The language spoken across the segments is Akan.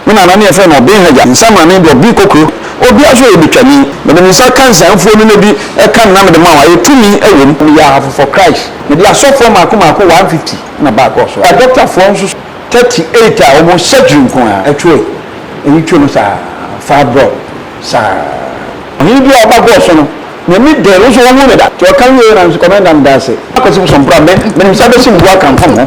Me nana ne yɛfrɛ no Ɔben Hagya, nsamane de Ɔben Kokro, obiara nso yɛ Betwani. Mede me nsa ka nsianfoɔ no na bi ka no na mede ma wo, ayɛ tumi wɔ mu. Meyɛ ahafo for Christ, mede asɔfoɔ maako maako 150 na baa kɔɔ so, adɔktafoɔ nso 38 a wɔn surgery nko ara ɛtwoe, eyi two no saa, fibroid saa. Ɔhene biara a ɔba kɔɔ so no n'ani dɛɛ, wo nso wo hu no da. Nti ɔka wieɛ na me nso Commander meda ase. Akwasi Bosompra, me mede me nsa bɛsim bo akamfam ho.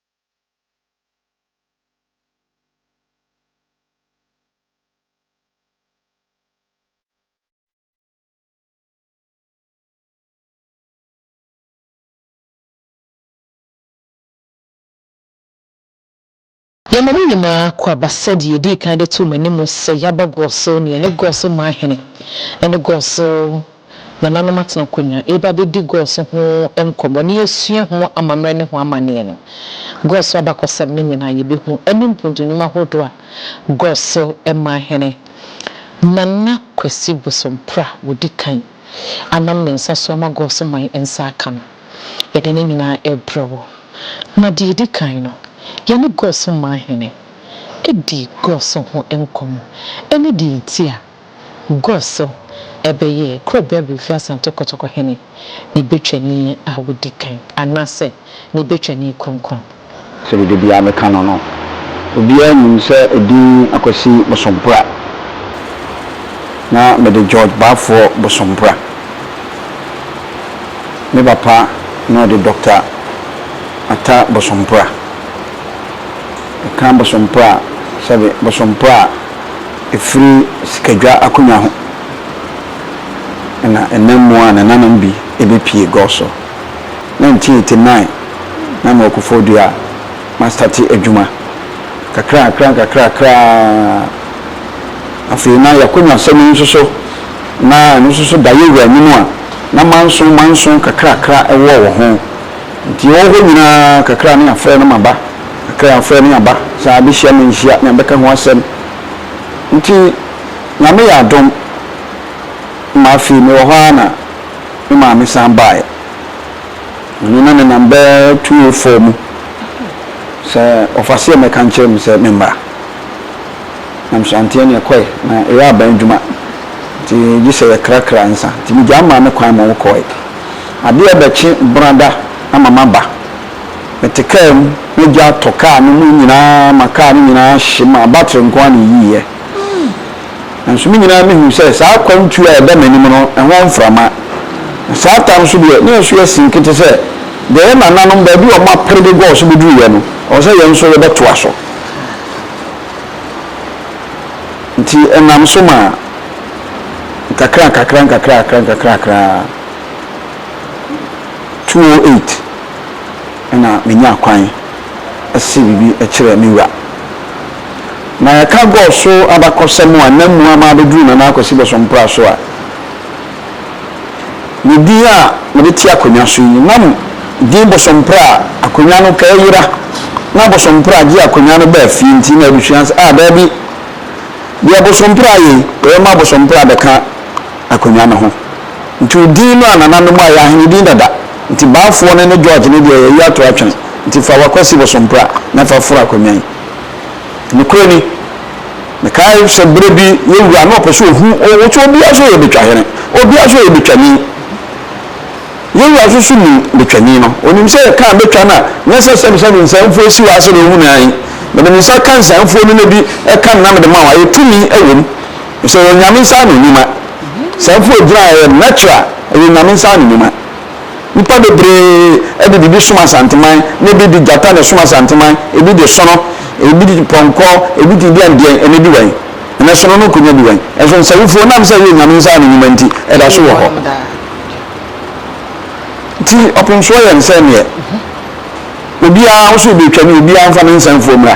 Yɛma mo nyinaa akwaaba sɛ deɛ yɛdii kan de too mo anim sɛ yɛabɔ Gɔso ne yɛne Gɔso Mahene ne Gɔso Nananom atena akonwa reba abɛdi Gɔs ho nkɔmmɔ na yɛasua ho amammerɛ ne ho amanneɛ no. Gɔs abakɔsɛm no nyinaa yɛbɛhu ɛne mpontu nnwuma ahodoɔ a Gɔs man hene Nana Kwasi Bosompra ɔdi kan anam ne nsa so ama Gɔs man nsa aka no. Yɛde ne nyinaa rebrɛ wo. Na deɛ ɛdi kan no, yɛne Gɔs man hene di Gɔs ho nkɔmmɔ ne deɛ nti a. Gua so, ɛbɛyɛ kura bi a befi Asante Kotoko hene ne Betwani a wodi kan anaasɛ ne Betwani Kronkron. Sɛdeɛ dabiara meka no no, obiara nim sɛ edin Akwasi Bosompra na mede George Baafoɔ Bosompra. Me papa na ɔde Dɔkta Atta Bosompra. Meka Bosompra a, sɛbe Bosompra a. ɛfiri sikadwa akonnwa ho na ɛnam mu a nananom bi bɛpue gɔɔ so. 1989 na mewɔ Koforidua a mastate adwuma. Nkakrankakra nkakrankakra ara afei na y'akonnwasɛm yi nso so na ɛno nso so da yɛwura anim a na manso manso kakrakra wɔ wɔ ho. Nti ɔwɔ hɔ nyinaa kakra ne afrɛ no maba, kakra afrɛ ne aba, saa abɛhyia me nhyia ne abɛka ho asɛm. Nti Nyame yɛ adom ma afei mewɔ hɔ ara na me maame san baeɛ. Ɔno na nenam bɛ 204 mu sɛ ɔfaseɛ mmɛka nkyerɛ me sɛ memmra. Nam so anteɛ ne ɛkɔe, na ɛyɛ aban adwuma nti gyesɛ yɛkrakra nsa nti megyaa me maame kwan ma ɔkɔe. Adeɛ rebɛkye brada ama maba. Mete kaa mu na gya atɔ kaa no mu nyinaa ma kaa no nyinaa ahye maa battery nko ara na ɛyiiɛ. Nanso me nyinaa mehu sɛ saa akwantuo a ɛda m'anim no ɛho mframa. Na saa tam nso deɛ na ɛso yɛ sink te sɛ deɛ yɛn nananom baabi a wɔapere de gɔɔ so bɛduruiɛ no ɛwɔ sɛ yɛn nso yɛbɛtoa so. Nti ɛnam so maa nkakrankakra nkakrankakra nkakrankakra ara. Two o eight na menyaa kwan see biribi kyerɛɛ me wura. Na yɛka gɔɔ so abakɔsɛm a nna mu ama abɛduru Nana Akwasi Bosompra so a, ne din a mede te akonnwa so yi, na din Bosompra a akonnwa no taa yera, na Bosompra gye akonnwa no baa fie nti na abusua no sɛ, Ah, daabi, deɛ Bosompra ayɛ yi, yɛbɛma Bosompra abɛka. akonwa no ho. Nti odin no a nananom ayɛ ahene din dada. Nti Baafoɔ no ne George no deɛ yɛyi ato atwene. Nti fa w'akwasi bosompra na fa foro akonwa yi. Nokorɛ ni, mekae sɛ berɛ bi yɛn wura no ɔpɛ sɛ ɔhu wo sɛ obiara so yɛ Betwahene, obiara so yɛ Betwani. Yɛn wura nso so nim Betwani no. Ɔnim sɛ yɛkaa Betwa no a, nyɛ sɛ sɛ mesɛ me nsanfuo asi wo ase na ɔhunu ae. Mede me nsa ka nsanfuo no na bi ka no na mede ma wo a, ɛyɛ tumi wɔ mu. Sɛ yɛ Nyame nsa ano nwuma. Saa mpo ɛgyina ɛyɛ natural ɛyɛ Nyame nsa ano nwuma. Nipa bebree ɛde biribi som Asanteman na ebi de gyata na ɛsom Asanteman, ebi de sono, ebi de pɔnkɔ, ebi de deɛn deɛn ɛnɛ di wɛn? Ɛnɛ sono no konya di wɛn? Ɛnso Nsawufoɔ nam sɛ ɛyɛ Nyame nsa ano nwuma nti ɛda so wɔ hɔ. Nti ɔpemsoɔ yɛ nsɛn neɛ obiara wo so wobɛtwa ne obiara mfa ne nsɛnfoɔ mmra.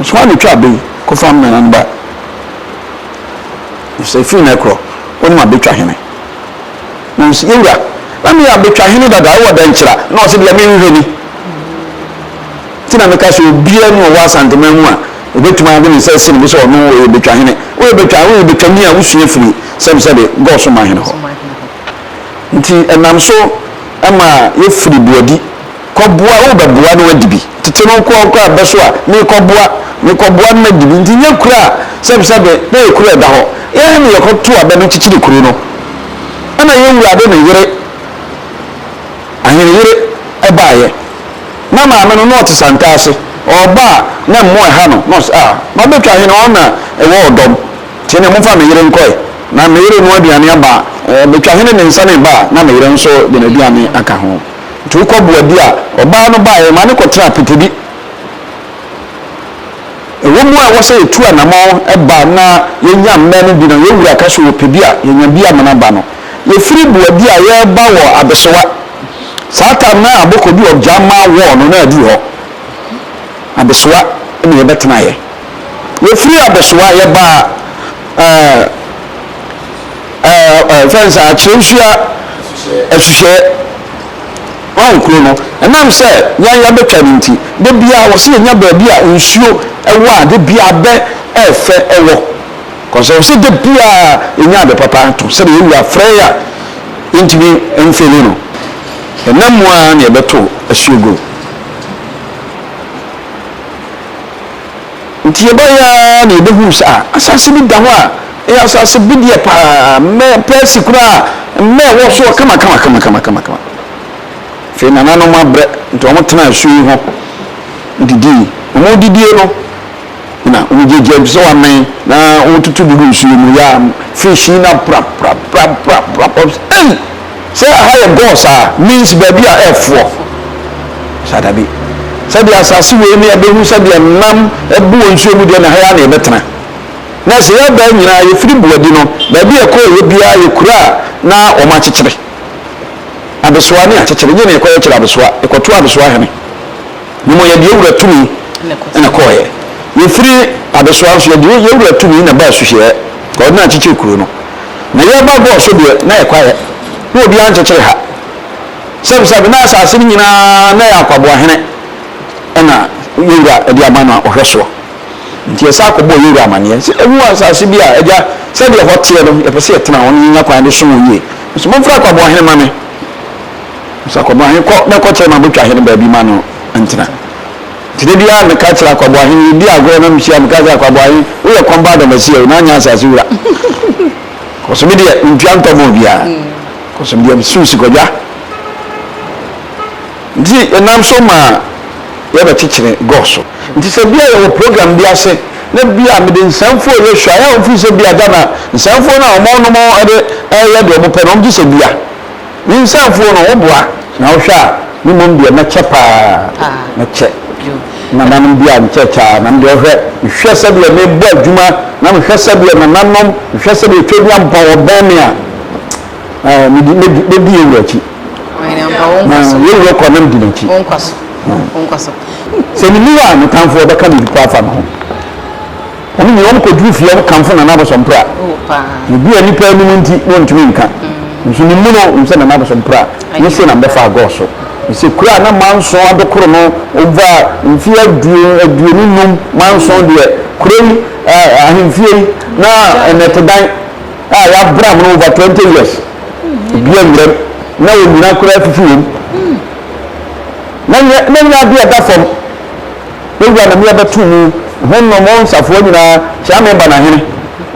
Nso ano twa bey ko fam nana no ba Nso efiri na ɛkorɔ wo ma betwa hene Na nso yɛwura na me ya betwa hene dada ɛwɔ dɛnkyira Na ɔse deɛ me nhwɛ ni Ti na meka sɛ obia ni ɔwɔ asanteman mu a Obetumi ade ne nsa asi ne bo sɛ ɔno ɔyɛ betwa hene Woyɛ betwa woyɛ betwa ni a wo sua firi sɛm sɛ de gɔ so ma hene hɔ Nti ɛnam so ɛma yɛ firi boadi Kɔboa, worebɛboa no adi bi. Tete no nkoa koraa bɛ so a, merekɔboa, merekɔboa no adi bi. Nti nyɛ kuro a sɛbesɛbe na ɛyɛ kuro a ɛda hɔ. Yɛn na yɛkɔto abɛ no kyekyere kuro no. Ɛna yɛn wura de ne yere, aheneyere, baeɛ. Na maame no, na ɔte santaa ase. Ɔreba a, na mmoa ɛha no. Na ɔse, Ah, mabɛtwa ahene, wɔn na ɛwɔ ɔdɔm. Nti ɛneɛ momfa me yere nkɔ ɛ. Na me yere renoa aduane aba a, ɛɛ, metwa ahene de nsa no reba a, na me yere nso de n'aduane aka ho. Nti wokɔ boa bi a, ɔbaa no baeɛ, maa no kɔtenaa apete bi. Ɛwɔ mu a ɛwɔ sɛ yɛtu anamɔn ba na yɛnya mmɛ no bi no, yɛn wura ka sɛ ɔpɛ bi a, yɛnya bi amena ba no. Yɛfiri boa bi a yɛreba wɔ abesewa. Saa tam no a abɔkɔ bi ɔgya ma wɔɔ no na aduru hɔ. Abesewa na yɛbɛtenaeɛ. Yɛfiri abesewa yɛbaa ɛɛ. fɛn sɛ akyerɛwsua ɛhwehwɛ wɔn kuro no ɛnam sɛ yɛn yɛbɛtwa no nti de biara wɔ sɛ yɛnya baabi a nsuo ɛwɔ a de biara bɛ ɛfɛ ɛwɔ kɔsɛ sɛ de biara yɛnya ade papa ato sɛ deɛ yɛwura frɛ a yɛntumi mfeli no ɛnam mu a na yɛbɛto asuo gu Enti yɛbae ara na yebehuu sɛ asase bi da hɔ a ɛyɛ asase bedeɛ paa, mmɛ pɛɛsi koraa, mmɛ wɔ soɔ kamakamakama. Afei nananom abrɛ, enti wɔtenaa asuo yi ho didii. Wɔredidie no, na wɔgyagyaa bi sɛ wɔamɛn, na wɔretutu guguu nsuo mu, yɛa, fish yi na prapraprapraprap, wɔbs ei! Sɛ aha yɛ gɔɔ saa means baabi a ɛfoɔ saa dabi sɛdeɛ asase wei ne ɛbɛhu sɛdeɛ nam ɛbu wɔ nsuo mu deɛ na ha yɛ na ɛbɛtena na sɛ yɛbaa nyinaa yɛfiri buadi no baabi a ɛkɔɔ yɛ biara yɛ kuro a na wɔn akyekyere abesoa ne akyekyere nyɛ na ɛkɔ yɛkyerɛ abesoa ɛkɔto abesoa hene ne mo yɛde yɛwura tumi na kɔɔ yɛ yɛfiri abesoa nso yɛde yɛwura tumi na baa suhyɛ ɔde na akyekyere kuro no Na yɛreba Gog so deɛ, na ɛkwaɛ, na obiara nkyekyere ha. Sɛbsɛbe, na asase no nyina ara na ɛyɛ akwaboahene na yɛn Wura de ama no a ɔhwɛ soɔ. Nti yɛsan akɔbɔɔ yɛn Wura amaneɛ sɛ, Yɛahu asase bi a, Agya, sɛdeɛ ɛhɔ teɛ no, yɛpɛ sɛ yɛtena hɔ na yɛnya kwan de som wo yie. Nso momfrɛ akwaboahene ma me. Nso akwaboahene kɔ na kɔkyerɛ m'abotwahene baabi ma no ntena. Nti da biara meka kyerɛ Akwaboahe no, yɛdi agorɔ na mehyia a, meka sɛ, Akwaboahe, woyɛ kɔmba Adamasia o, na anyɛ asase wura. Ɔse, me deɛ, mentua ntɔ ma obiara. Ɔse, me deɛ, mesew si kwadwa. Nti yɛnam so ma yɛbɛkyekyere gɔɔ so. Nti sɛ bi a yɛwɔ program bi ase na bi a mede nsɛmfoɔ rehwɛ a, yɛ a wɔmfiri sɛ bi a Ghana nsɛmfoɔ no a wɔnom de reyɛ deɛ wɔpɛ no, wɔgye sɛ bi a. Me nsɛmfoɔ no, wo boa na wo hwɛ a, me mmom deɛ mɛkyɛ paa, mɛkyɛ nananom deɛ a nkyɛkyɛ ara, na me deɛ ɔhwɛ, mehwɛ sɛdeɛ mebɔ adwuma, na mehwɛ sɛdeɛ nananom, mehwɛ sɛdeɛ Twɛduam pa wɔbɛn me a, eh, medi, medi, medi yɛn wura akyi. Na yɛn wura kɔ na medi n'akyi. Sɛ menu a, me tamfoɔ bɛka biribi pa afa me ho. Wɔn nyinaa wɔn kɔduru fie wɔn kamfo Nana Abosompra. Ebi a nnipa anum nti na ɔntumi nka. Nso ne mu no nim sɛ Nana Abosompra ne se na mbɛfa agɔɔ so. Ne se kura na manso adokoro no ova mfie aduon aduonu num manso deɛ kuro yi ahemfie yi na nnɛtedan a yɛabram no ova 20 years ebi awuram na onyina kura afifi wom na nyɛ na nyɛ adeɛ ɛda fam. Me wura na me abɛto mu, ho nnom o nsafoa nyina ara, kyea me ba na hene,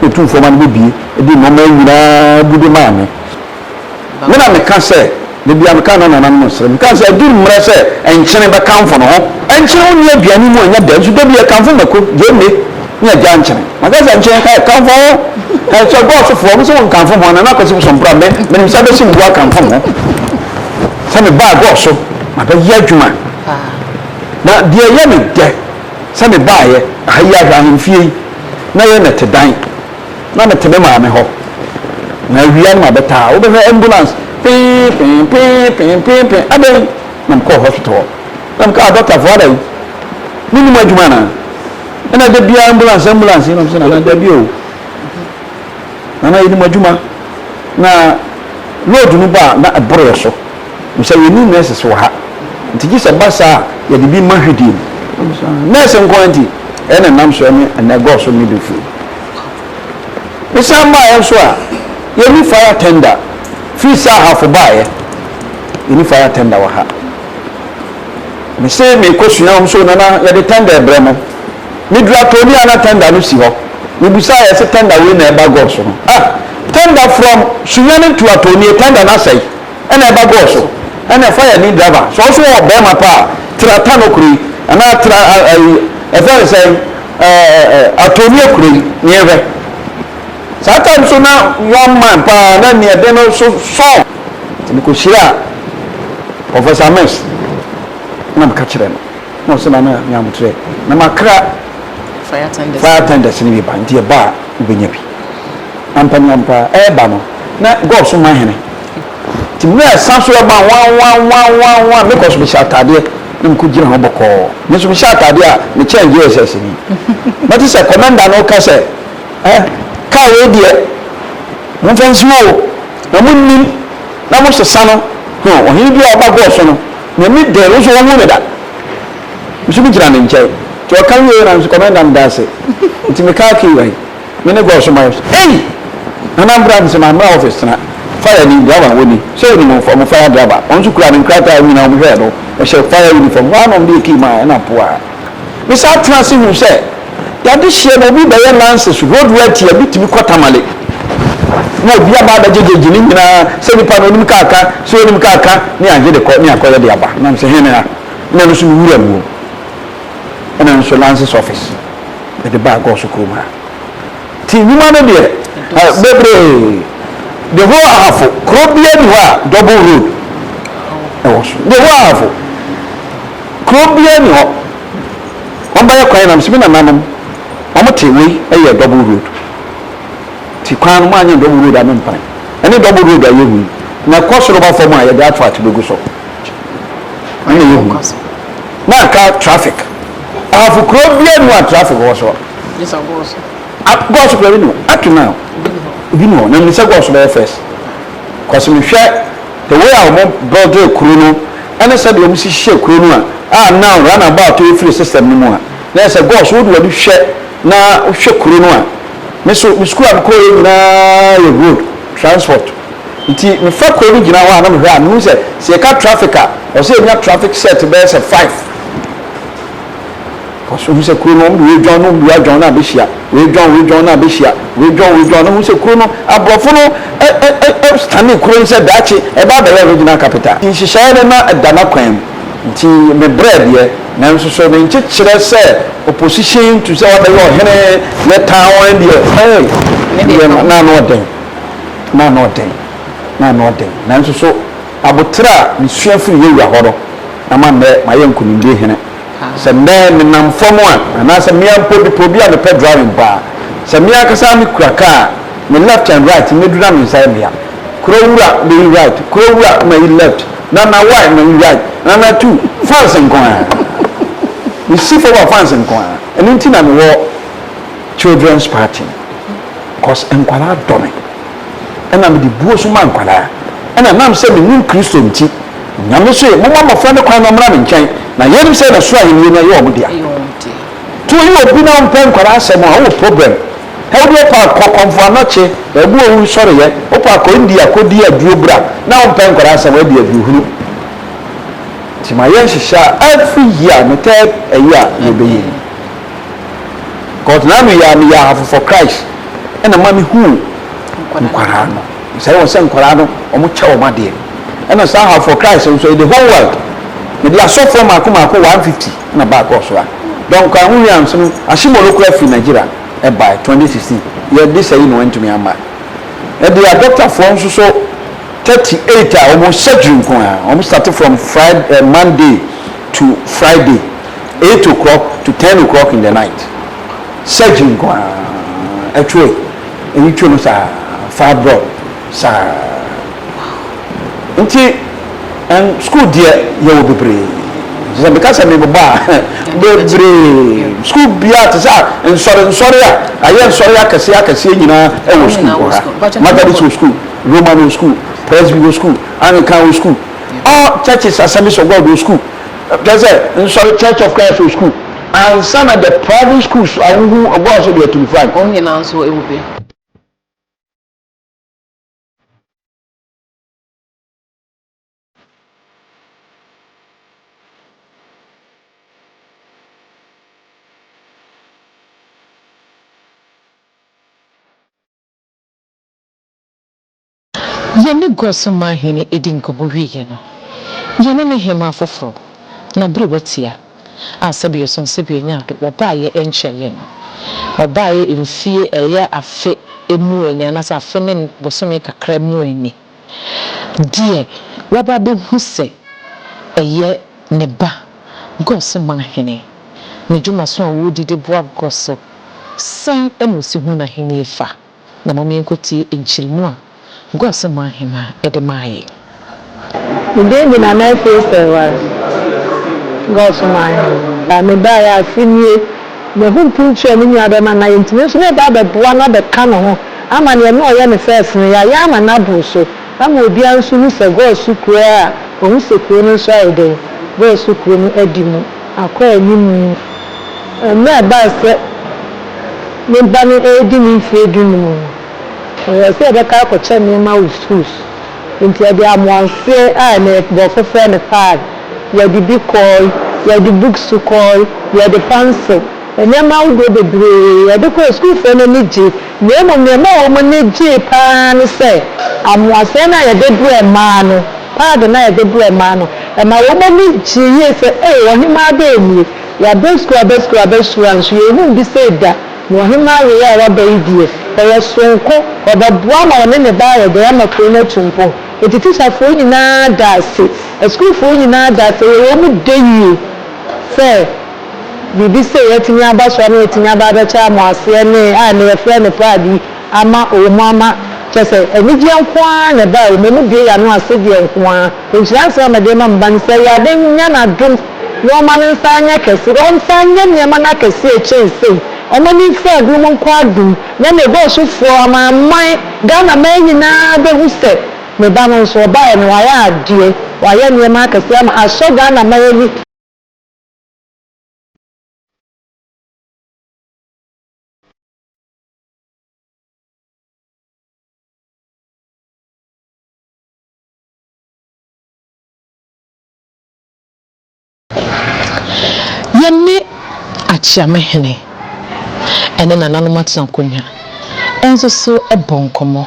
na otumfoɔ ma no bɛbie de nnoɔma nyina ara agude maa me. Me na meka sɛ, da biara meka na nananom nsere, meka sɛ adu mmerɛ sɛ nkyene bɛkamfo ne ho. Nkyene ho nni aduane mu a ɛnyɛ dɛ, nso da biara ɛkamfo mako, gyeene, ne agya nkyene. Maka sɛ nkyene, hɛ, kamfo ho, hɛ, sɛ ɔbɔɔ sofoɔ, mo sɛ mo nkamfo ho a, Nana Kwasi Bosompra, me, menim sɛ abɛsi mbu akamfo mo ho, sɛ me ba agɔɔ so, mabɛyɛ adwuma. Na deɛ ɛyɛ me dɛ sɛ mebaaeɛ ha yi ara hwɛ ahemfie yi, na ɛyɛ nnɛtedan, na mete me maame hɔ, na awia no mabɛtaa, wobɛhwɛ ambulance, pee-pee, pee-pee, pee-pee, adɛn? Na mekɔɔ hospital hɔ, na meka, ah, dɔktafoɔ adɛn? Monni mo adwuma anaa? Ɛna da biara ambulance, ambulance, ɛna ɔmo sɛ, nana, dabi o, nana, yɛnim adwuma, na load no ba a, na ɛboro yɛn so. Bisa yɛnni nurses wɔ ha nti gye sɛ ɛba saa a yɛde bi ma hwidie mu. Nurse nko ara nti ɛyɛ na nam soɔ ne ɛnɛ ɛgɔɔ so midwifery. Mesan baeɛ nso a yɛnni fire tender firi sɛ ahafo baeɛ yɛnni fire tender wɔ ha. Mese merekɔsua wɔn so nana yɛde tender rebrɛ mo. Meduru attorney a na tender no si hɔ. Mebusaeɛ ɛse tender wei na ɛba gɔɔ so no. Ah! Tender from Sunyani to attorney tender no asɛe. ɛna ɛba gɔɔ so ɛna ɛfa yɛ ne driver sɛ ɔso wɔ bɛɛma pa a tra ta no kuro yi anaa tra ayi ɛfɛ ne sɛ ɛɛ atoni akuro yi ne yɛn hwɛ saa time so na one man paa na nea ɛde no so sɔɔ nti mekɔ hyia professor mess na meka kyerɛ no na ɔsɛ na na ne amotrɛ na makra fire tenders ne bi ba nti ɛba a wobɛnya bi ampanyampa ɛba no na god so ma hene Nti berɛ a ɛsan so ɛba nwanwanwanwanwan, me kɔ so mehyɛ ataadeɛ na mekɔ gyina hɔ bɔkɔɔ. Me nso mehyɛ ataadeɛ a mekyɛn JSS ni. Mɛte sɛ kɔmɛnda no reka sɛ, eh, kaa wei deɛ momfa nsi hɔ o, na monnim na mosesa no, huh, ɔhene bi a ɔba gɔɔ so no, n'ani dɛɛ, wo nso wohuu no da? Me nso megyina ne nkyɛn. Nti ɔka wieeɛ na me nso kɔmɛnda no daa ase. Nti mekaa kii wai. Me ne God so mayɛ so. Ei! Nana mbra mese ma mbra office tena fire ni driver wɔ ni sɛ onim wo fam fire driver wɔn nso kura me nkrataa nyina wɔn hwɛɛ do ɛhyɛ fire uniform hɔ a na wɔn de yɛ key maa ɛna poaa me saa tena ase hu sɛ yade hyeɛ na obi bɛyɛ lances road rati a bi tumi kɔ tamale na obi aba abɛgye gyegye ne nyinaa sɛ nipa na onim kaa ka sɛ onim kaa ka ne agye de kɔ ne akɔyɛ de aba nam sɛ hene ha na no so me wura mu ɛna nso lances office mede baa God so kurom ha. Nti nnwuma no deɛ, bebree. The whole ahafo, kuro biara ni hɔ a double road ɛwɔ so. The whole ahafo, kuro biara ni hɔ. Wɔn bɛyɛ kwan nam si mi nananom, wɔn te wei ɛyɛ double road. Ti kwan no mo anyɛ double road a me mpan. Ɛne double road a yɛhu yi, na ɛkɔ soro ba fam a yɛde asphalt bɛgu so. Ɛna yɛhu. Na aka traffic. Ahafo kuro bia ni hɔ a traffic wɔ so. Nyesa gɔɔso. A gɔɔso kura bi ni hɔ up to now. Obi ni hɔ. Na nyesa gɔɔso bɛyɛ first. Cause me hwɛ the way a wɔn build kuro no ɛne sɛ deɛ wɔn si hyehyɛ kuro no a a now run about yi firi system no mu a na yɛ sɛ gɔɔso wode w'ani hwɛ na wohwɛ kuro no a me so me school a me kɔɔ yɛ nyinaa yɛ road transport nti me fa kuro no gyina hɔ a na me hwɛ a me hu sɛ sɛ yɛ ka traffic a ɔsɛ yɛ nya traffic set bɛyɛ sɛ five. Kɔ so hu sɛ kuro no wɔde wɔadwan no wɔde wɔadwan no abɛhyia wɔadwan wɔadwan no abɛhyia wɔadwan wɔadwan no hu sɛ kuro no aborɔfo no ɛ ɛ ɛ stane kuro no sɛ daakye ɛba abɛyɛ original capital nhyehyɛeɛ no na ɛda n'akwan mu nti mebrɛ deɛ nanso so ne nkyekyerɛ sɛ opposition to sɛ wabɛyɛ ɔhene yɛ town deɛ ɛɛ deɛ na ano ɔden na ano ɔden na ano ɔden nanso so Aboterɛ a mesua firi Yehowa hɔ no ama nnɛ mayɛ nkonimdie hene. Sɛ nnɛ menam fam a, anaasɛ me ara mpo bepɔ bi a mepɛ driving mpo a, sɛ me ankasa ara mekura kaa a, me left and right mɛduru na me nsa yɛ me ya. Kura wura, mayi right, kura wura, mayi left, Nana why, mayi right, Nana two, fans nko ara. Mesi fam a fans nko ara. Ɛno nti na mewɔ children's party no, cos nkwadaa dɔ me. Ɛna me de buo so maa nkwadaa. Ɛna ɛnam sɛ me nim Kristo nti, Nyame se, Momma mmɔfra no kwan na ɔmmra me nkyɛn, na yɛn nim sɛ na soro ahennie no ɛyɛ wɔn dea. To yi obi na ɔmpɛ nkwadaa asɛm a, ɔwɔ problem. Hɛ wo deɛ wopɛ a kɔ kɔmfo anɔkye, baabi owu nsɔreyɛ, wopɛ a kɔ India kɔ di aduo bra, na wompɛ nkwadaa asɛm a, ɛdeɛ aduo hunu. Nti ma yɛn nhyehyɛ a every year, ne third ɛyi a yɛbɛyɛ yi. Cause na ano yi ara meyɛ ahafo for Christ ɛna ma me huu nkwadaa no sɛe wɔn sɛ nkwadaa no wɔn kyɛ wɔn adeɛ ɛna saa ahafo for Christ nso in the whole world mede asɔfoɔ maako maako 150 ɛna baa kɔɔ so a dɔn kwan ho wia nso no ahyemɔ no kura fi Nigeria ɛbae 2016 yɛ de sɛe no ɛntumi ama ɛde a doctor foɔ nso so 38 a wɔn surgery nko a wɔn start from Friday eh, Monday. to Friday eight o'clock to ten o'clock in the night surgery nko ara ɛtwe eyi twe no saa fibroid saa nti ɛn school deɛ yɛwɔ bebree sɛ meka sɛ mebobɔ a bebree school biara te sɛ nsɔre nsɔre a ayɛ nsɔre akɛseɛ akɛseɛ nyinaa ɛwɔ school wɔ ha Methodist wɔ school Roman wɔ school Presby wɔ school Anglican wɔ school All Churches Assemblies of God wɔ sukuu, kyerɛ sɛ, nsɔre Church of Christ wɔ sukuu, ansa na the private schools a wohu ɔbɔɔ so de atum fura no. Wɔn nyinaa nso wɔ bi. Yɛne gua so man hene dii nkɔmmɔ wieeɛ no, yɛne ne hemmaa foforɔ, n'aberewa Tia, a sɛbe ɔsɔn sɛbe ɔnya ade, ɔbaeɛ nkyɛn yɛn no. Ɔbaeɛ mfie ɛyɛ afe mmuo ni anaasɛ afe ne bosome kakra mmuo ni. Deɛ waba abɛhu sɛ ɛyɛ ne ba, gua so man hene, ne dwumaso a ɔredi de boa gua so, sɛn na ɔsi hu n'ahennie fa? na mom yɛnkɔtie nkyeremu a nkoasom mu ahemaa de maa yɛn. Mede adi na mɛtee sɛ ɛware, nkoasom mu ahemaa. Mebaeɛ afe nie, mahu mpuntuo a me nua bɛma na yɛntumi nso na ɛba abɛboa no abɛka ne ho ama deɛ na ɔyɛ ne first no yɛayɛ ama no aboro so ama obiara nso hu sɛ Gosu kuro a wɔhu sɛ kuro no nso ayɛ dɛn, Gosu kuro no adi mu. akɔ anim no, mmerɛ a ɛbaa sɛ me ba no redi ne mfeɛ dunum no, ɔyɛɛ sɛ ɔbɛtaa akɔkyɛ nneɛma wɔ sukuu so. Enti ɔde amoaseɛ a na nkurɔfo frɛ no pad, yɛde bi kɔe, yɛde books kɔe, yɛde pencil, nneɛma ahodoɔ bebree yɛde kɔe, sukuufoɔ no ani gyee. Na mmom nea ɛmaa wɔn ani gyee pa ara ne sɛ amoasɛe no a wɔde brɛɛ mmaa no, paade no a wɔde brɛɛ mmaa no, ɛmaa wɔn ani gyee yie sɛ, Ei, ɔhemmaa dɛn nie? Yɛaba sukuu aba sukuu aba sukuu nanso yɛnhuu bi sei da, na ɔhemmaa wei a waba yi deɛ, ɔyɛ soronko, ɔbɛboa ma ɔne ne ba ayɛ dɛn ama kuro no atu mpɔn? Enti tikyafoɔ nyinaa daa ase, asukuufoɔ nyinaa daa ase, ɛyɛ wɔn dɛ yie sɛ, Biribi sei atumi aba so a na watumi aba abɛkyɛ amoaseɛ ne a ɛnnɛ yɛfrɛ no pride yi ama wɔ mu ama kyerɛ sɛ anigyeɛ nko ara na ɛbaa wɔ mu, ɛmu bue yɛn ano ase deɛ nko ara. Nhyira nsɛm a mede rema me ba no sɛ Awurade nyɛ n'adom na ɔmma ne nsa nyɛ kɛse na ɔnsan nyɛ nneɛma no akɛseɛ kyɛn sei, ɔmma ne mfiri adom mu nkɔ adom na ne dɔɔsofoɔ amanaman, Ghanaman nyinaa bɛhu sɛ me ba no nso ɔbaeɛ no wayɛ adeɛ, wayɛ nneɛma akɛseɛ ama asɔ Ghanaman ani. Yɛne Akyeamehene ne nananom atena nkonnwa nso so bɔ nkɔmmɔ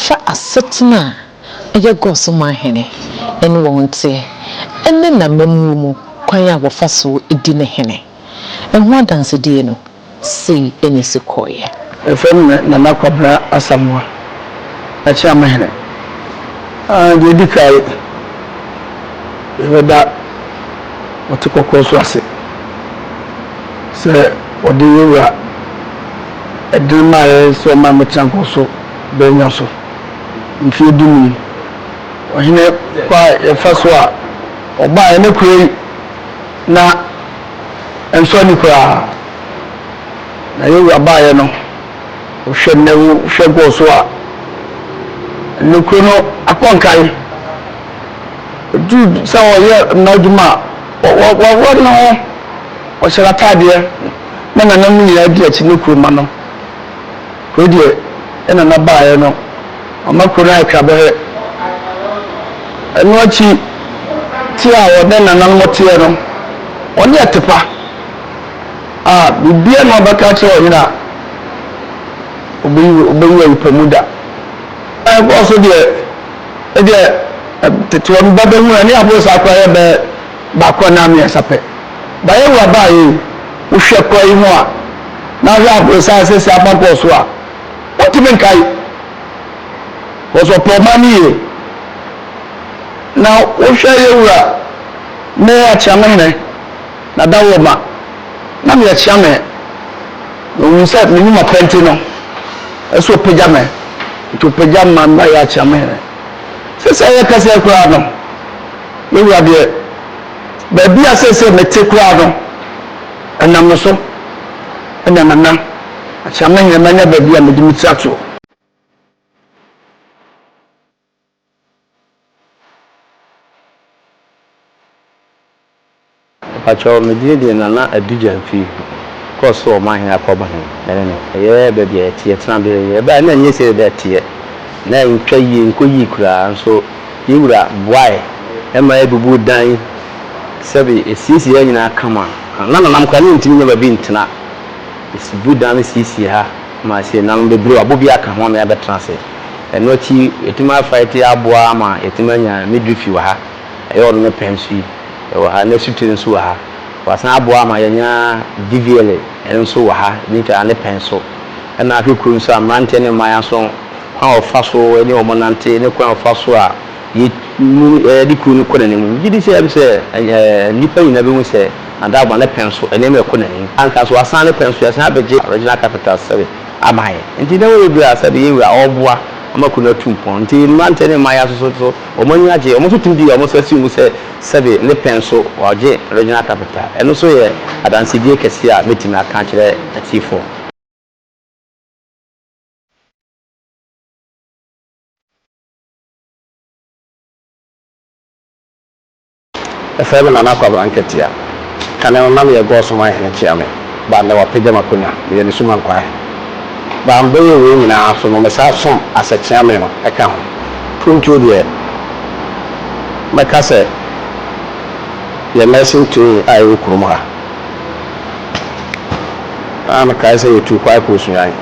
fa asetena a ɛyɛ God so ma hene ne wɔn teɛ, ne n'amammuo mu kwan a wɔfa so di no hene, ho adansedie no sei na ɛsi kɔeɛ. Yɛfrɛ me Nana Kwabena Asamoah, Akyeame hene. Deɛ ɛdi kan, yɛbɛda Ɔte Kɔkɔɔ so ase sɛ ɔde yɛn wura ɛdene maa yɛn sɛ ɔmma yɛmmɛtena nkɔso bɛnnya so. mfeɛ dunum. Ɔhene kwa a yɛfa so a ɔbaa yɛn kuro yi na ɛnsɔ ani koraa. Na yɛn wura baeɛ no, wohwɛ nnɛ wohwɛ kɔɔ so a, ɛnɛ kuro no akɔ nkae. Ɛduru sɛ wɔyɛ mma adwuma a, wɔwɔ ne ho, wɔhyɛ n'ataadeɛ na nananom nyinaa di akyi ne kuroma no. Wei deɛ ɛna na baeɛ no ama kuro no ayɛ twabɛrɛ. Ɛno akyi te a wɔne nananom teɛ no, wɔne Atepa a biribiara na wɔbɛka akyerɛ ɔhene a, ɔbɛyi ɔbɛyi ayi pɛ mu da. Ɛkɔɔ so deɛ ɛdeɛ tete wɔn babahunu ne aboro saa koraa yɛ bɛɛ. baako anaa mmiɛnsa pɛ. Baeɛ awuraba a ee, wohwɛ kɔ yi ho a, na ahwɛ aborosan asɛsi afa kɔɔ so a, wontumi nkae. Because ɔpɛ ɔman no yie. Na wohwɛ Yawura, me Akyeamehene, na Dawoma, na meyɛ Kyeame. Na ɔhunu sɛ menim ɔpɛ nti no, ɛsɛ ɔpagya me. Nti ɔpagya me ma mayɛ Akyeamehene. Sɛsɛɛ yɛkasa yi koraa no, Me wura deɛ, baabi a seesei mete koraa no, ɛnam no so na Nana Akyerɛma Ahinema nya baabi a mede me ti ato. Mpakyɛw me din de Nana Adija Mfi kɔ so ɔman he akɔ ɔba he ɛne no ɛyɛ baabi a yɛteɛ tena bere he ɛbaeɛ na ɛnyɛ sei na ɛteɛ na ɛntwa yie nkɔ yie koraa nso yɛ wura boae ma yɛbubuu dan yi sɛbe ɛsiesie ha nyinaa kama na Nana no koraa na ɔntumi nya baabi ntena yɛsibu dan no siesie ha ma ɛsiesie Nana no bebree wabɔ bi aka ho ama yɛabɛtena ase ɛno akyi yɛtumi afa yɛte aboa ama yɛtumi anya midwifi wɔ ha Ɛyɛ ɔno ne pɛ nso yi wɔ ha, ne asutire nso wɔ ha. Wasan aboa ama yɛanya Divielle nso wɔ ha, ne nti ara ne pɛ nso. Ɛna ahwɛ kurom nso a, mmeranteɛ ne mmayewa nso, kwan a wɔfa so ne wɔn nante, ne kwan a wɔfa so a yɛde kuro no kɔ n'anim. Megye di sɛ, sɛ nnipa nyinaa bɛhu sɛ Nadagbon ne pɛ nso, nneɛma rekɔ n'anim. Anka nso wasan ne pɛ nso, yɛasan abɛgye Regional Capital sɛbe ama yɛn. Nti nneɛma bebree a sɛbe yɛn wura ɔreboa ama kuro no atu mpɔn. Nti mmeranteɛ ne mmayewa nso so, Wɔn ani agye. Wɔn nso tumi di wɔn nsa si mu sɛ sɛbe ne pɛ nso wɔagye Regional Capital. Ɛno nso yɛ adansedie kɛseɛ a mɛtumi aka akyerɛ atiefoɔ. Efrɛ me Nana Kwabena Nketiah. Kane no na meyɛ God's Ɔman Hene Kyeame, but nnɛ wɔapagya m'akonwa, meyɛ ne Suma Nkwaa Hene. But mebɛyɛ wei nyinaa nso no, mesaa som as a Kyeame no ka ho. Mprempio deɛ, mɛka sɛ yɛ Nursing Trainee a ɛwɔ kurom ha, na mekae sɛ yɛtuu kwae kɔɔ Sunyani.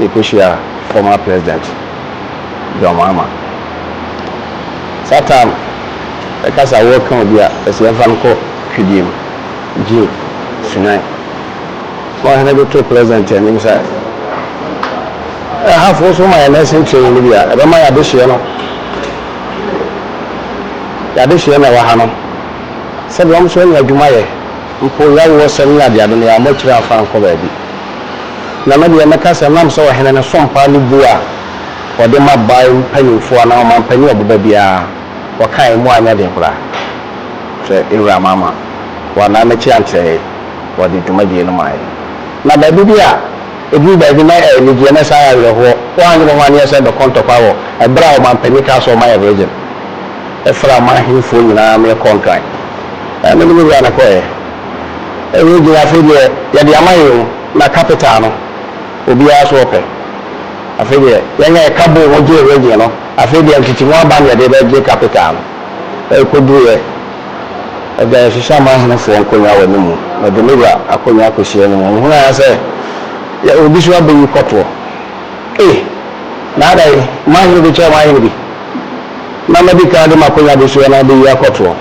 yɛkɔhyiaa former president John Mahama. Saa time yɛka sɛ awɔ ka obi a ɛsɛ yɛmfa no kɔ fidie mu, gym, sunan. Na ɔhene de too president anim sɛ ɛhafo nso ma yɛ nursing training no bi a ɛbɛma yɛadehyeɛ no yɛadehyeɛ na ɛwɔ ha no sɛdeɛ wɔn nso anya adwuma yɛ mpo yawoɔsɛm ne adeade no yɛammɔ akyiri amfa ankɔ baabi. Na me deɛ mɛka sɛ nam sɛ ɔhene no som paa ne bu a ɔde ma bae mpanyimfoɔ anaa ɔmampanin a ɔbɛba biara, ɔkae mu anyɛ den koraa sɛ Ewura Mahama wannan n'akyi ankyerɛ yɛn, ɔde dwumadie no mae. Na baabi bi a ɛduru baabi na ɛyɛ anigyeɛ na ɛsan yɛ awerɛhoɔ, woannye me ho anneɛ sɛ bɛkɔ ntɔkwa wɔ ɛberɛ a ɔmampanin kaa sɛ ɔma yɛn Region, ɛfra m'ahenfoɔ nyinaa merekɔ Nkran. Ɛɛ, me ne me Wura na ɛkɔeɛ. Ɛyɛ gyina afei deɛ yɛde ama yɛn mu na capital no obiara so ɔpɛ afei deɛ yɛn yɛ ɛka bɔɔ mu gyee regye no afei deɛ ntete mu aba na yɛde bɛ gye capital no ɛkɔ duru yɛ ɛda yɛhyehyɛ amanhene foɔ nkonwa wɔ ne mu na de ne wura akonwa kɔsi anim wɔn hunu ara sɛ yɛ obi so abɛ yi kɔtoɔ ei na ada yi manhene bɛkyɛ manhene bi na mɛdi kan de makonwa bɛsi hɔ na abɛyi akɔtoɔ.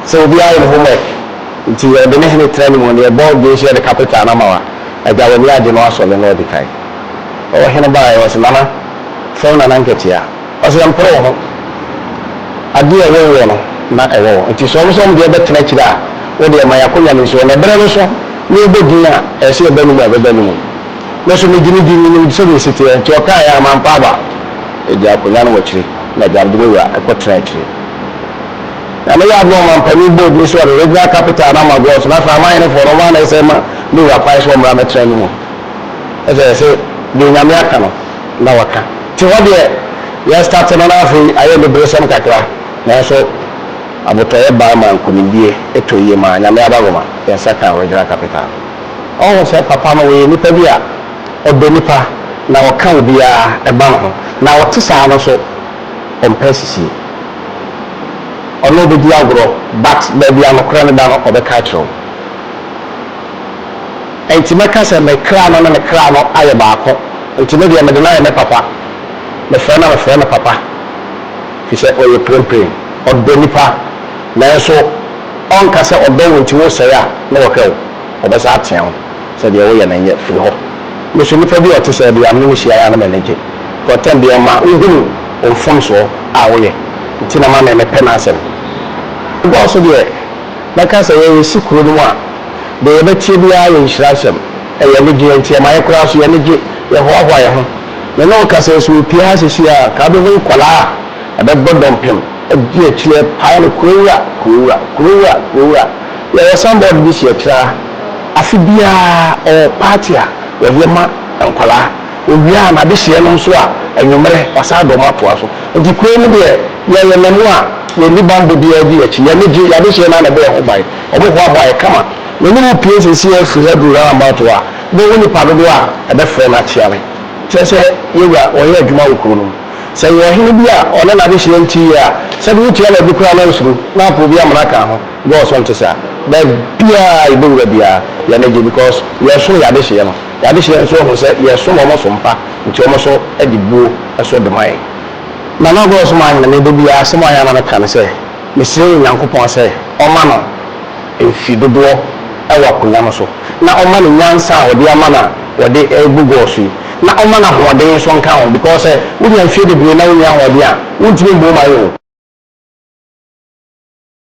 Sɛ obi ayɛ ne homework nti ɔde ne hene tra ne mu neɛ bɔ dwen so yɛde capital no ama wo a agya w'ani agye na wasɔ ne no adi kan. Ɔhene baeɛ ɔse nana frɛ wo nana nketea ɔse mpere wo ho adeɛ a wonwɔ no na ɛwɔ wo nti sɛ ɔmo sɛ ɔmo deɛ bɛtena akyire a wodeɛ ma y'akonwa no nsi hɔ na ɛberɛ no so na ɔbɔ din a ɛsɛ ɛba ne mu a ɛbɛba ne mu. Me nso megye ne di menim sɛdeɛ ɛsi teɛ nti ɔkaeɛ a mampa aba. Ɛdi akonwa no wɔ akyire na agya no de me wura kɔtena akyire. Na ne yɛ ade ma ɔmanpanin board no so ɔde regional capital no ama Gɔs na afei amanhenefoɔ no ɔmo ara na ɛsɛ ma ne wura kwan sɛ ɔmmra mmɛtena ne mu. Ɛsɛ ɛsɛ deɛ Nyame aka no na waka. Te hɔ deɛ yɛ start no na afei ayɛ aniberesɛm kakra nanso abotɔeɛ baa maa nkunimdie ɛtɔ yie maa Nyame adagoma yɛn nsa kaa regional capital no. Ɔho sɛ papa no ɔyɛ nipa bi a ɔdɔ nipa na ɔka obiara ɛba ne ho na ɔte saa no nso. ɔmpɛ asisie. Ɔne wo bɛdi agorɔ but baabi a nokorɛ no da no ɔbɛka akyerɛ wo. Ɛnti mɛka sɛ me kra no ne ne kra no ayɛ baako nti me deɛ mede no ayɛ me papa. Mefrɛ no a mefrɛ no papa firi sɛ ɔyɛ prempren. Ɔdɔ nipa nanso ɔnka sɛ ɔdɔ wo nti woresɛe a na wahwɛ wo. Wɔbɛsan ateɛ wo sɛ deɛ woyɛ no nyɛ, firi hɔ. Me nso nipa bi a ɔte sɛɛ deɛ a me ne no hyia ara na m'ani gye. Kɔntɛn deɛ ma wohunu wo mfomsoɔ a woyɛ nti na ma me mepɛ n'asɛm. Woba so deɛ mɛka sɛ yɛn yɛsi kuro no mu a deɛ yɛbɛteɛ biara yɛ nhyira nsɛm. Ɛyɛ anigyeɛ nti ɛma yɛ koraa nso yɛ ani gye, yɛ hoahoa yɛ ho. Me ne wo ka sɛ sɛ ɔpie ha seesei a nka wobɛhu nkwadaa a ɛbɛbɔ dɔmpem adi akyire pae no kurowura, kurowura, kurowura, kurowura. Yɛwɔ sanbɔɔd bi si akyire ha afe biara ɔwɔ paati a wɔyɛ ma nkwadaa ɔwie a n'adehyeɛ no nso a anwummerɛ wasan de wɔn atoa so nti kuro yi mu deɛ yɛyɛ mmamu a yɛnni bammɔ biara di akyi yɛn ani gye yɛn adehyeɛ no ara na ɛbɔ yɛn ho ban wɔn hoahoa yɛn kama me ne wo pue seesei ara firi ha duru roundabout hɔ a wobɛhu nnipa dodoɔ a ɛbɛfrɛ no akyea me kyerɛ sɛ yɛwura ɔyɛ adwuma wɔ kuro no mu sɛ ɛyɛ ɔhene bi a ɔne n'adehyeɛ nte yie a sɛdeɛ wotua no ade koraa na nsuro na apɛ obi amena ka ho. God so nte saa. Baabiaa yɛbɛwura biaa yɛn ani gye because yɛresom yɛn adehyeɛ no. Yɛn adehyeɛ nso ahunu sɛ yɛsom wɔn som pa nti wɔn nso de buo so dema yɛn. Nana God so maame Nana da biaa asɛm a ɔyɛ a na me ka ne sɛ mesrɛ Onyankopɔn sɛ ɔma no mfe dodoɔ wɔ akonwa no so na ɔma no nyansa a ɔde ama no a ɔde rebu God so yi na ɔma no ahoɔden nso nka ho because sɛ wonya mfeɛ bebree na wonni ahoɔden a wontumi mmɔ mu ayɛ o.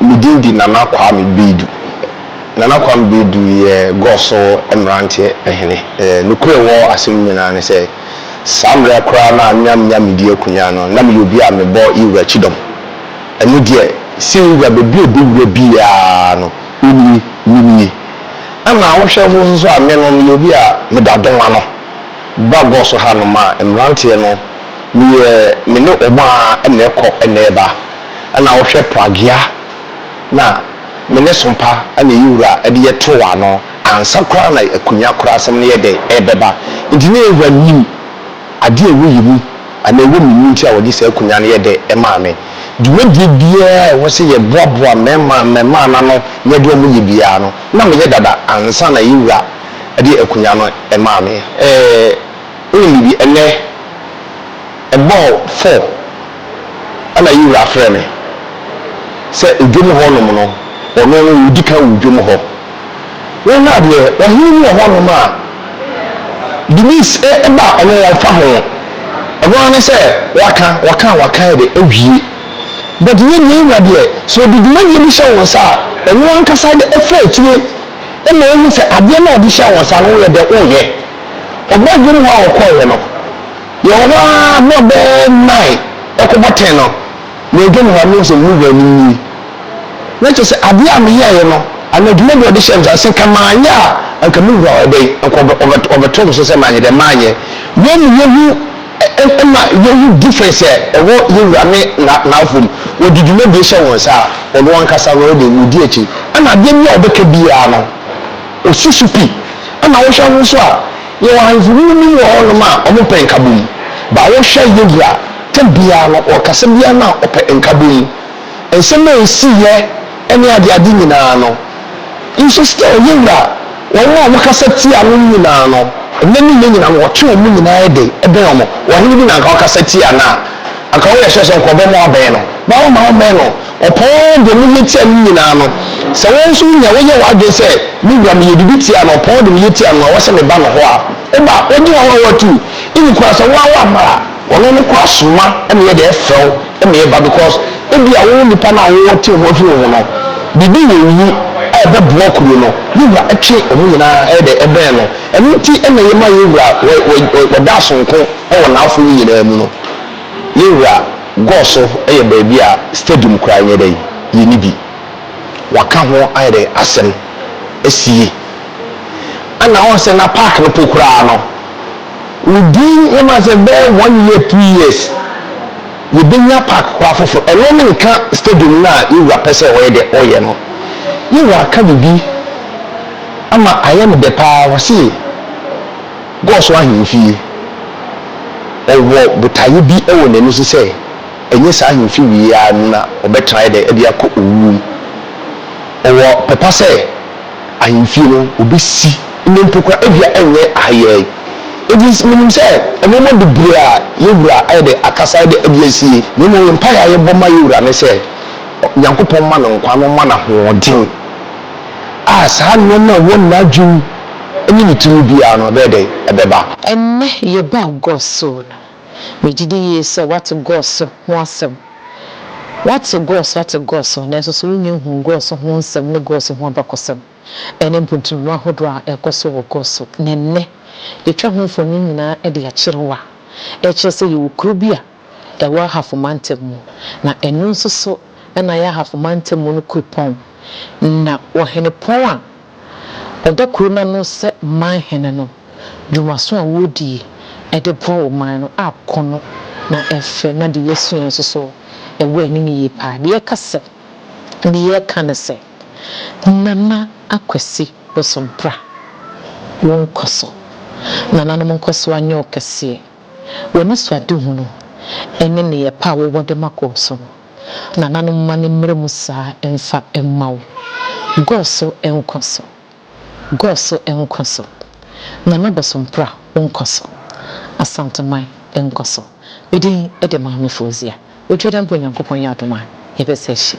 Me din de Nana Kwame Baidu. Nana Kwame Baidu yɛ Gɔɔ so mmeranteɛ hene. Nokorɛ wɔ asem no nyinaa ne sɛ, saa mmerɛ koraa no a na menya me di akonyaa no, na meyɛ obi a mebɔ Yewura kyidɔm. Ɛno deɛ, sɛ Yewura baabi a ɔbɛwura biara no, ɔnie, menie. Ɛna wohwɛ nso nso a, me no, meyɛ obi a meda dɔm ano ba Gɔɔ so hanom a mmeranteɛ no, Meyɛ me ne wɔn a na ɛkɔ na ɛba na wohwɛ Pragya na me ne Sompa na ɛyɛ wura de yɛ too ano ansa koraa na Akunya koraa asɛm no yɛ dɛ ɛrebɛba nti na Eva nim adeɛ a ɛwɔ yɛ mu anaa ɛwɔ me mu nti a wɔde saa Akunya no yɛ dɛ ɛmaa me. Dwumadie biara a ɛwɔ sɛ yɛboaboa mmarima mmarima no ano na yɛde wɔn yɛ biara no na meyɛ dada ansa na yɛ wura de Akunya no maa me. Wonim no bi ɛnɛ ɛbɔɔ four ɛna yi wura frɛ me sɛ odwom hɔ nom no ɔno no ɔdi kan wɔ odwom hɔ wei na deɛ ɔhene bi wɔ hɔ nom a Denise ɛ ɛba a ɔno ɔmfa ho ɔno ara ne sɛ waka waka a waka yɛ dɛ awie but yɛ deɛ yɛ wura deɛ sɛ ɔde dwumadie bi hyɛ wo nsa a ɔno ankasa de ɛfiri akyire ɛna ɔhu sɛ adeɛ no a ɔde hyɛ wo nsa no wo yɛ dɛ wo yɛ Ɔbaa bi mu hɔ a ɔkɔeɛ no, yɛwɔ hɔ ara berɛ bɛyɛ nnan rekɔbɔ ten no, madwa me ho a mehu sɛ me wura no nie. Na kyerɛ sɛ adeɛ a meyɛeɛ no anaa dwuma bi a ɔde hyɛɛ me nsa no, sɛ nka manyɛ a, anka me wura ɔyɛ dɛn, anka ɔbɛto me so sɛ manyɛ dɛn, manyɛ. Yei ma yɛhu ma yɛhu difference a ɛwɔ yɛn wura ne n'awofo mu. Wɔde dwumadie hyɛ wo nsa a, ɔno ankasa no ɔyɛ dɛn, ɔdi akyi. Ɛna adeɛ bi a ɔbɛka biara no, Osusu pi. Ɛna wohwɛ ho nso a, yɛwɔ ahemfo munim wɔ hɔnom a wɔpɛ nkabom. Ba wohwɛ Yehu a, tam biara no ɔkasa biara no a ɔpɛ nkabom. Nsɛm a esiiɛ ne adeade nyinaa no, nso still Yehu a, wɔn a wɔkasa tia no nyinaa no, nnɛ ne nnɛ nyinaa no wɔtwe wɔn nyinaa de bɛn wɔn. Ɔhene bi na anka ɔkasa tia no a, anka woyɛ sure sɛ anka ɔbɛma woabɛn no. Ba womma wommɛn no. Ɔpɔn de ne yɛ tia ne nyinaa no. Sɛ wo nso wunya woyɛ w'adwene sɛ, 'Me wura, meyɛ biribi tia no, ɔpɔn de ne yɛ tia no a, wɔhyɛ me ba no hɔ a, wo ba, wogye w'ahoa a watu, even koraa sɛ woara woamma a, ɔno no koraa soma ma yɛde frɛ wo ma yɛba because ebia wo nipa no a wowɔ tew ho afi wo ho no, biribi wɔ wo mu a ɛbɛboa kuro no, ne wura twe wɔn nyinaa ɛyɛ dɛ ɛbɛn no. Ɛno nti na yɛma yɛn wura wɔ wɔ wɔda sonko wɔ n'afono nyinaa mu no. Yɛn wura. Gɔɔ so yɛ baabi a stadium koraa nyɛ dɛn yɛ ne bi. Wɔaka ho ayɛ dɛn asɛm asi yie. Ɛna woahu sɛ na park no po koraa no wodi ne ma sɛ bɛyɛ one year two years yɛbɛnya park koraa foforɔ. Ɛno ne nka stadium no a yɛn wura pɛ sɛ ɔyɛ dɛ ɔyɛ no. Yɛn wura aka biribi ama ayɛ no dɛ paa ɔse. Kɔɔ so ahemfie. Ɔwɔ botaeɛ bi wɔ n'ani so sɛ ɛnyɛ saa ahemfie wei yi ara mu na ɔbɛtena ayɛ dɛn de akɔ owuo mu. Ɔwɔ pɛ pa sɛ ahemfie no ɔbɛsi nnɛ mpo koraa ebia ɛnyɛ ha yi ara yi. Enti menim sɛ nnoɔma bebree a yɛn Wura ayɛ dɛn akasa ayɛ dɛn de asie. Na mmom yɛn mpaeɛ a yɛbɔ ma yɛn Wura ne sɛ Nyankopɔn mma no nkwa na ɔmma no ahoɔden a saa nnoɔma a ɛwɔ n'adwene mu ne ne tumi biara no, ɛbɛyɛ dɛn? Ɛbɛba. Ɛnnɛ yɛba Gog so no, megye di yie sɛ woate Gog so ho asɛm. Woate Gog so, woate Gog so, nanso so wonnya nhuu Gog so ho nsɛm ne Gog so ho abakɔsɛm, ɛne mpuntumma ahodoɔ a ɛrekɔ so wɔ Gog so? Na ɛnnɛ, yɛatwa ho mfonin nyinaa de akyerɛ wo a ɛkyerɛ sɛ yɛwɔ kuro bi a ɛwɔ Ahafo Mantam mu, na ɛno nso so na ɛyɛ Ahafo Mantam mu no kuropɔn, na ɔhenepɔn a. Ɔda kuro no ano sɛ man hene no dwumaso a wodie de boa wɔ man no a ko no na ɛfɛ na deɛ yɛsua nso so wɔ ani no yie paa. Deɛ yɛka sɛ deɛ yɛka ne sɛ Nana Akwasi Bosompra wo nkɔso nananom nkɔso anyɛ wo kɛseɛ. W'anisoadehunu ne nneyɛɛ pa a wowɔ de ma kɔɔ so no. nananom mma no mmra mu saa mfa mma wo. Gor so nkɔ so. Gor so nkɔ so. Nana Bosompra wo nkɔ so. Asanteman nkɔ so. Me din de Maame Fauzia Oduadambo Onyankopɔn yɛ adom a yɛbɛsa ahyia.